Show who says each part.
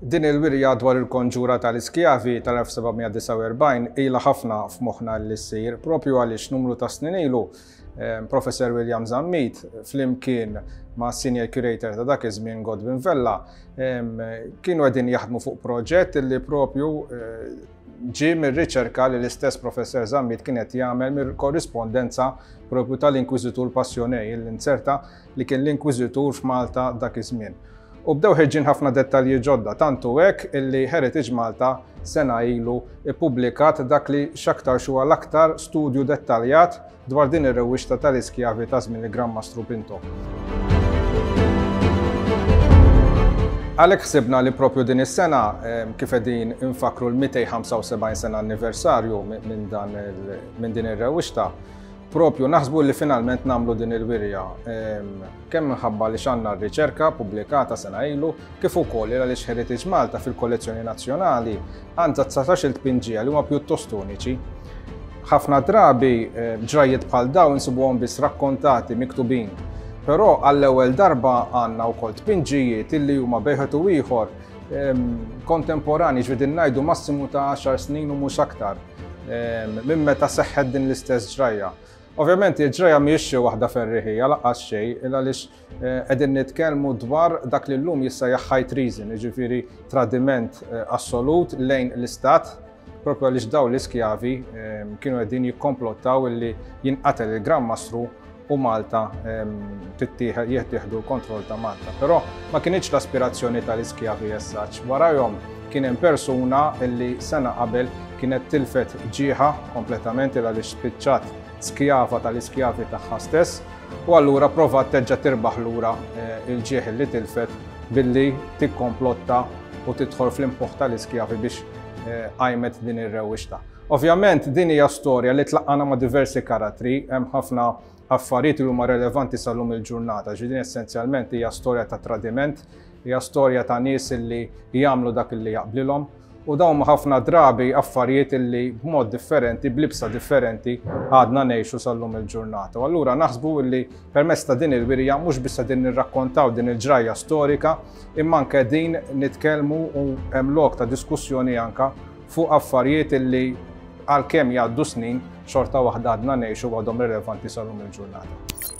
Speaker 1: Din il-wirja dwar il-konġura tal-iskjavi tal-1749 ila ħafna f'moħħna li ssir propju għaliex numru ta' snin ilu ehm, Professor William Zammit flimkien ma' senior curator ta' dak iż-żmien Godwin Vella ehm, kienu qegħdin jaħdmu fuq proġett li propju eh, Ġie mir-riċerka li l-istess Professer Zammit kien qed jagħmel mir-korrispondenza propju tal-Inkwiżitur Passionej, il-Linzerta, li kien l-Inkwiżitur f'Malta dak iż-żmien. U bdew ħerġin ħafna dettalji ġodda, tantu hekk illi Heritage Malta sena ilu ippubblikat dak li x'aktarx huwa l-aktar studju dettaljat Dwar din ir-rewwixta tal-iskjavi ta' żmien il-Gran Mastru Pinto. Għalhekk ħsibna li propju din is-sena kif qegħdin infakkru l-275 sena anniversarju minn dan minn din ir-rewwixta, propju naħsbu li finalment nagħmlu din il-wirja kemm minħabba għaliex għandna r-riċerka pubblikata sena ilu kif ukoll għaliex Heritage Malta fil-kollezzjoni nazzjonali għandha dsatax-il tpinġija li huma pjuttost uniċi. Ħafna drabi eh, ġrajjiet bħal dawn insibuhom biss rakkontati, miktubin, però għall-ewwel darba għandna wkoll tpinġijiet illi huma bejħet u ieħor ehm, kontemporani ġvidin ngħidu massimu ta' 10 snin u mhux aktar ehm, minn meta seħħet din l-istess ġrajja. Ovvjament il-ġrajja mhijiex xi waħda ferriħija lanqas xejn, il għaliex qegħdin nitkellmu dwar dak li llum jissejjaħ high treason, jiġifieri tradiment assolut lejn l-istat, propju għaliex dawn l-iskjavi kienu qegħdin jikkomplottaw illi jinqatel il-Gran Mastru u Malta tittieħed jittieħdu l-kontroll ta' Malta. Però ma kinitx l-aspirazzjoni tal-iskjavi as such. Warajhom Kien hemm persuna li sena qabel kienet tilfet ġieħha kompletament il għaliex spiċċat skjava tal-iskjavi tagħha stess u allura provat terġa' tirbaħ lura eh, il-ġieħ li tilfet billi tikkomplotta u tidħol fl-impuħ tal-iskjavi biex eh, għajmet din ir-rewixta. Ovvjament din hija storja li tlaqqana ma' diversi karattri, hemm ħafna affarijiet li huma relevanti sal-lum il-ġurnata, ġidin essenzjalment hija storja ta' tradiment Hija storja ta' nies li jagħmlu dak li jaqblilhom u dawn huma ħafna drabi affarijiet li b'mod differenti, b'libsa differenti għadna ngħixu sal-lum il-ġurnata. U allura naħsbu li permezz ta' din il-wirja mhux biss qegħdin nirrakkontaw din il-ġrajja storika, imma anke qegħdin nitkellmu u hemm lok ta' diskussjoni anke fuq affarijiet li għalkemm jgħaddu snin xorta waħda għadna ngħixu għadhom rilevanti sal-lum il-ġurnata.